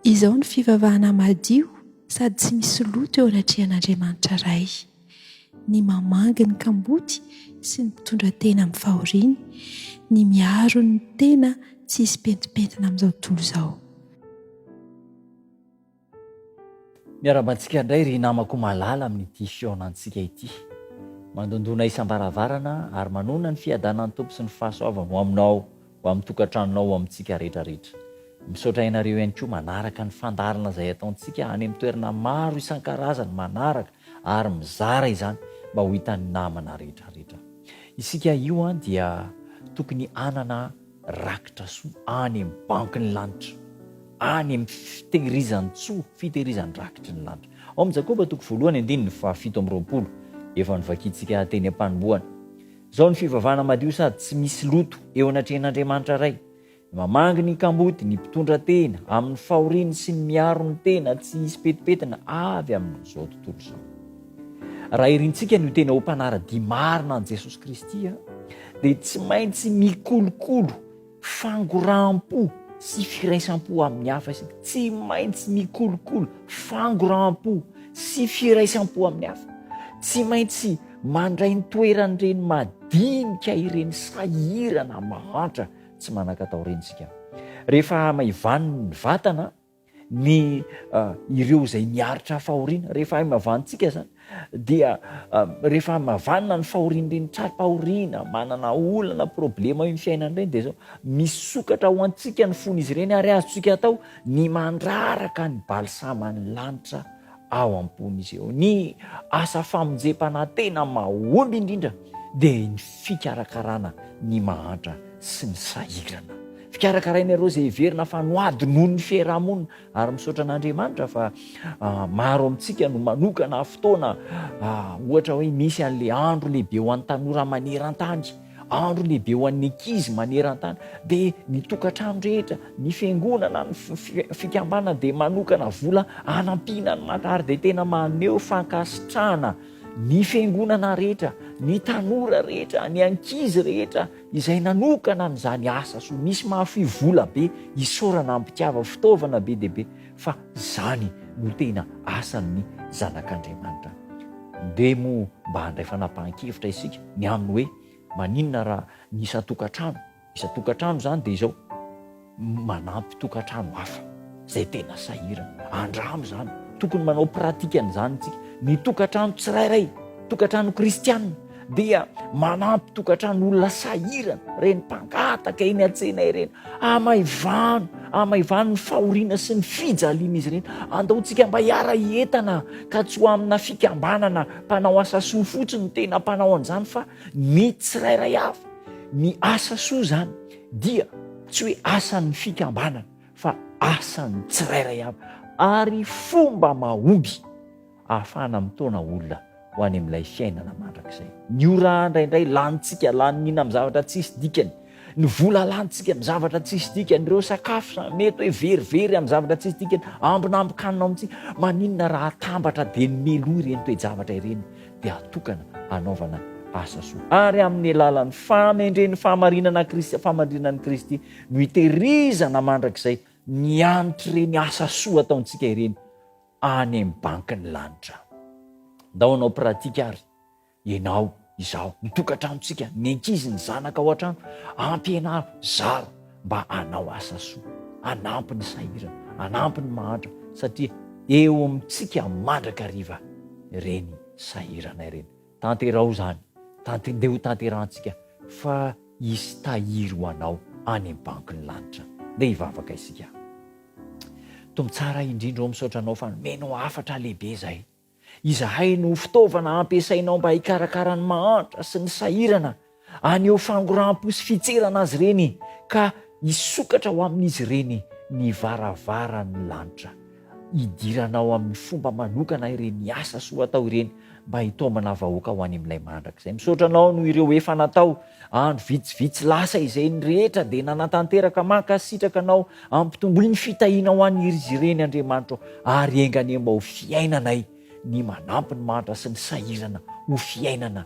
Izao no fivavahana madio sady tsy misy loto eo anatrehan'Andriamanitra Ray, ny mamangy ny kamboty sy ny mpitondra tena amin'ny fahoriany, ny miaro ny tena tsy hisy pentimpentina amin'izao tontolo izao. Miarahaba antsika indray ry namako malala amin'ity fihaonantsika ity. Mandondona isam-baravarana ary manonona ny fiadanan'ny Tompo sy ny fahasoavany ho aminao, ho amin'ny tokantranonao, ho amintsika rehetra rehetra. Misaotra ianareo ihany koa manaraka ny fandaharana izay ataontsika any amin'ny toerana maro isan-karazany, manaraka ary mizara izany mba ho hitan'ny namana rehetra rehetra. Isika io dia tokony hanana Rakitra soa any amin'ny banky ny lanitra, any amin'ny fitehirizan-tsoa, fitehirizan-drakitry ny lanitra. Ao amin'ny Jakoba toko voalohany andininy fahafito amby roapolo, efa novakintsika teny am-panombohana. Izao ny fivavahana madio sady tsy misy loto eo anatrehan'Andriamanitra Ray, Ny mamangy ny kamboty, ny mpitondra tena, amin'ny fahoriany sy ny miaro ny tena tsy hisy pentipentina avy amin'izao tontolo izao. Raha irintsika ny ho tena ho mpanara-dia marina an'i Jesosy Kristy, dia tsy maintsy mikolokolo fangoraham-po sy firaisam-po amin'ny hafa isika. Tsy maintsy mikolokolo fangoraham-po sy firaisam-po amin'ny hafa. Tsy maintsy mandray ny toeran'ireny madinika ireny sahirana mahantra tsy manan-katao ireny isika. Rehefa maivaniny ny vatana, ny ireo izay niaritra fahoriana rehefa haimavantsika izany dia rehefa haimavanina ny fahorian'ireny tra-pahoriana manana olana problema io ny fiainana ireny dia zao misokatra ho antsika ny fony izy ireny ary azontsika atao ny mandraraka ny balsama ny lanitra ao am-pon'izy ireo. Ny asa famonjempanahy tena mahomby indrindra dia ny fikarakarana ny mahantra sy ny sahirana. Fikarakaraina ireo izay heverina fa noady noho ny fiarahamonina. Ary misaotra an'Andriamanitra fa maro amintsika no manokana fotoana, ohatra hoe misy an'ilay andro lehibe ho an'ny tanora maneran-tany, Andro lehibe ho an'ny ankizy maneran-tany dia ny tokantrano rehetra, ny fiangonana, ny fikambanana dia manokana vola hanampiana ny mata ary dia tena maneho fankasitrahana ny fiangonana rehetra, ny tanora rehetra, ny ankizy rehetra izay nanokana an'izany asa soa. Misy mahafoy vola be isaorana ampitiava, fitaovana be dia be. fa izany no tena asan'ny Zanak'Andriamanitra. Dia moa mba handray fanapahan-kevitra isika ny amin'ny hoe, maninona raha ny isan-tokantrano, isan-tokantrano izany dia izao, manampy tokantrano hafa izay tena sahirana. Andramo izany, tokony manao pratika an'izany isika, ny tokantrano tsirairay, tokantrano kristiana. dia manampy tokantran'olona sahirana, ireny mpangataka eny an-tsena ireny, amaivano, amaivano ny fahoriana sy ny fijalian'izy ireny. Andaontsika mba hiara-hietana ka tsy ho amina fikambanana mpanao asa soa fotsiny no tena mpanao an'izany fa ny tsirairay avy. Ny asa soa izany dia tsy hoe asan'ny fikambanana fa asan'ny tsirairay avy ary fomba mahomby ahafahana mitaona olona ho any amin'ilay fiainana mandrakizay. Ny ora indraindray lanintsika laninina amin'ny zavatra tsisy dikany, ny vola lanintsika amin'ny zavatra tsisy dikany, ireo sakafo sa mety hoe verivery amin'ny zavatra tsisy dikany, ambinambin-kanina ao amintsika. Maninona raha atambatra dia ny meloa ireny toe-javatra ireny dia atokana hanaovana asa soa. Ary amin'ny alalan'ny fahamendren'ny fahamarinana Kristy, fahamarinan'i Kristy no itehirizana mandrakizay ny an'treny asa soa ataontsika ireny. any amin'ny bankin'ny lanitra any. Ndao hanao pratika ary ianao, izaho, ny tokantranontsika, ny ankizy, ny zanaka ao an-trano, ampianaro, zaro mba hanao asa soa, hanampy ny sahirana, hanampy ny mahantra satria eo amintsika mandrakariva ireny sahirana ireny. Tanteraho izany, tant, dia hotanterahantsika fa hisy tahiry ho anao any amin'ny bankin'ny lanitra. Ndeha hivavaka isika. Tompo tsara indrindra ô, misaotra Anao fa nomenao hafatra lehibe izay. Izahay no ho fitaovana hampiasainao mba hikarakara ny mahantra sy ny sahirana Haneho fangoraham-po sy fitserana azy ireny, ka hisokatra ho amin'izy ireny ny varavaran'ny lanitra. Hidiranao amin'ny fomba manokana ireny asa soa atao ireny mba hitaomana vahoaka ho any amin'ilay mandrakizay. Misaotra Anao noho ireo efa natao. Andro vitsivitsy lasa izay ny rehetra dia nanatanteraka. Mankasitraka Anao. Ampitomboy ny fitahiana ho an'izy ireny, Andriamanitra ô, ary enga anie mba ho fiainanay ny manampy ny mantra sy ny sahirana ho fiainana